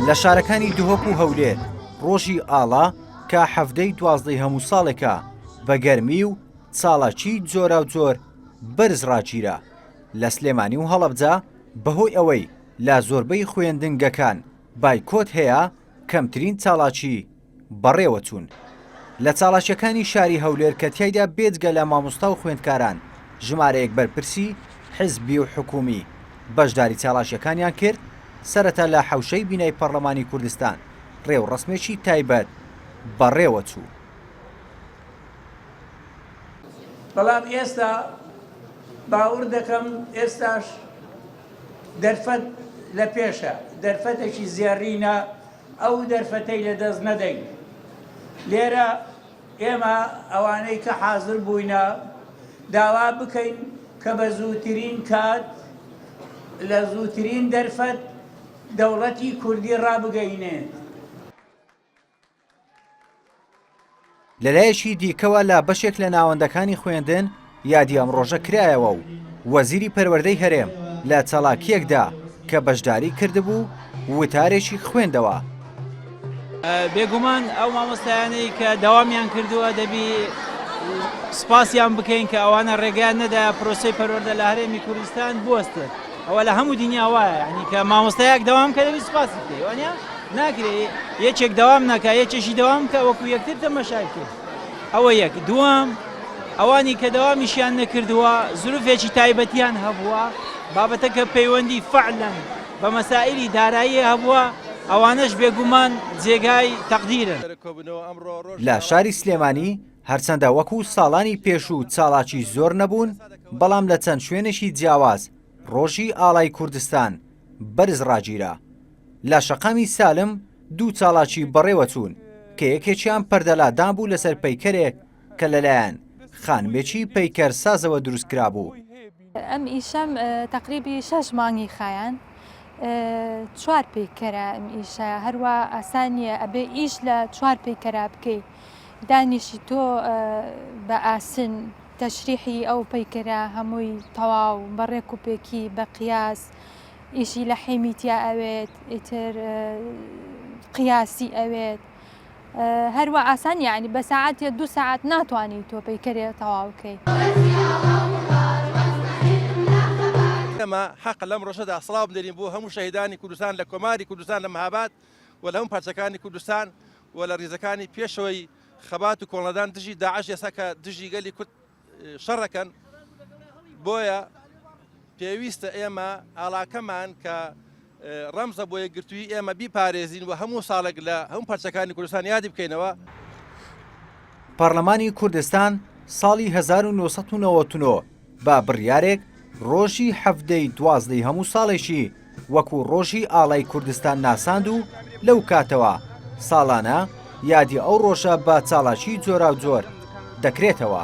لە شارەکانی دهۆک و هەولێر ڕۆژی ئاڵا کە حەڤدەی دوازدەی هەموو ساڵێکە بە گەرمی و چاڵاکی جۆرا و جۆر بەرز ڕاگیرا لە سلێمانی و هەڵەبجە بەهۆی ئەوەی لە زۆربەی خوێندنگەکان بایکۆت هەیە کەمترین چاڵاکی بەڕێوەچوون لە چاڵاکیەکانی شاری هەولێر کە تیایدا بێجگە لە مامۆستا و خوێندکاران ژمارەیەک بەرپرسی حزبی و حکوومی بەشداری چاڵاکیەکانیان کرد سەرەتا لە حەوشەی بینای پەڕلەمانی کوردستان ڕێوڕەسمێکی تایبەت بەڕێوەچوو. بەڵام ئێستا باوڕ دەکەم ئێستاش دەرفەت لە پێشە دەرفەتێکی زێڕینە. ئەو دەرفەتەی لە دەست نەدەین. لێرە ئێمە ئەوانەی کە حازر بووینە داوا بکەین کە بە زووترین کات لە زووترین دەرفەت دەوڵەتی کوردی ڕابگەینێت. لەلایەکی دیکەوە لە بەشێک لە ناوەندەکانی خوێندن یادی ئەم ڕۆژە کرایەوە و وەزیری پەروەردەی هەرێم لە چالاکیەکدا کە بەشداری کردبوو وتارێکی خوێندەوە. بێگومان ئەو مامۆستایانەی کە داوامیان کردووە دەبی سپاسیان بکەین کە ئەوانە ڕێگەیان نەدا پرۆسی پەروەردە لە هەرێمی کوردستان بوەستێت ئەوە لە هەموو دنیا وایە ینی کە مامۆستایەک داوام کە دەبی سپاسی بکەی وانە ناکرێ یەکێک دەوام نەکا یەکێشی دەوام بکا وەکو یەکتر تەمەشای بکەین ئەوە یەک دووەم ئەوانی کە دەوامیشیان نەکردووە زروفێکی تایبەتیان هەبووە بابەتە کە پەیوەندی فەعلەن بە مەسائیلی دارایی هەبووە ئەوانەش بێگومان جێگای تەقدیرن. لە شاری سلێمانی هەرچەندە وەکو ساڵانی پێشوو چاڵاکی زۆر نەبوون بەڵام لە چەند شوێنێکی جیاواز ڕۆژی ئاڵای کوردستان بەرز ڕاگیرا. لە شەقامی سالم دوو چاڵاکی بەڕێوە چوون کە یەکێکیان پەردەلادان بوو لەسەر پەیکەرێک کە لەلایەن خانمێکی پەیکەر سازەوە دروست کرابوو. ئەم ئیشەم تەقریبی شەش مانگی خایان چوار پەیکەرە ئەم ئیشە هەروە ئاسانیە ئەبێ ئیش لە چوار پەیکەرا بکەیت دانیشی تۆ بە ئاسن تەشریحی ئەو پەیکەرە هەمووی تەواو بەڕێک و پێکی بە قیاس ئیشی لە حیمی تیا ئەوێت ئیتر قیاسی ئەوێت هەروە ئاسان یعنی بە ساعت یە دو ساعت ناتوانانی تۆ پەیکەرێ تەواوکەی. ئێمە حەقە لەم ڕۆژەدا سڵاو بدەین بۆ هەموو شەهیدانی کوردستان لە کۆماری کوردستان لە مەهاباد و لە هەموو پارچەکانی کوردستان و لە ڕیزەکانی پێشەوەی خەبات و کۆڵنەدان دژی داعش ئێستا کە دژی گەلی کورد شەڕەکەن بۆیە پێویستە ئێمە ئاڵاکەمان کە ڕەمزە بۆ یەکگرتووی ئێمە بیپارێزین و هەموو ساڵێک لە هەم پەرچەکانی کوردستان یادی بکەینەوە. پارلمانی کوردستان ساڵی 1999 بە بڕیارێک ڕۆژی حەڤدەی دوازدەی هەموو ساڵێکی وەکوو ڕۆژی ئاڵای کوردستان ناساند و لەو کاتەوە ساڵانە یادی ئەو ڕۆژە بە چاڵاکی جۆراوجۆر دەکرێتەوە.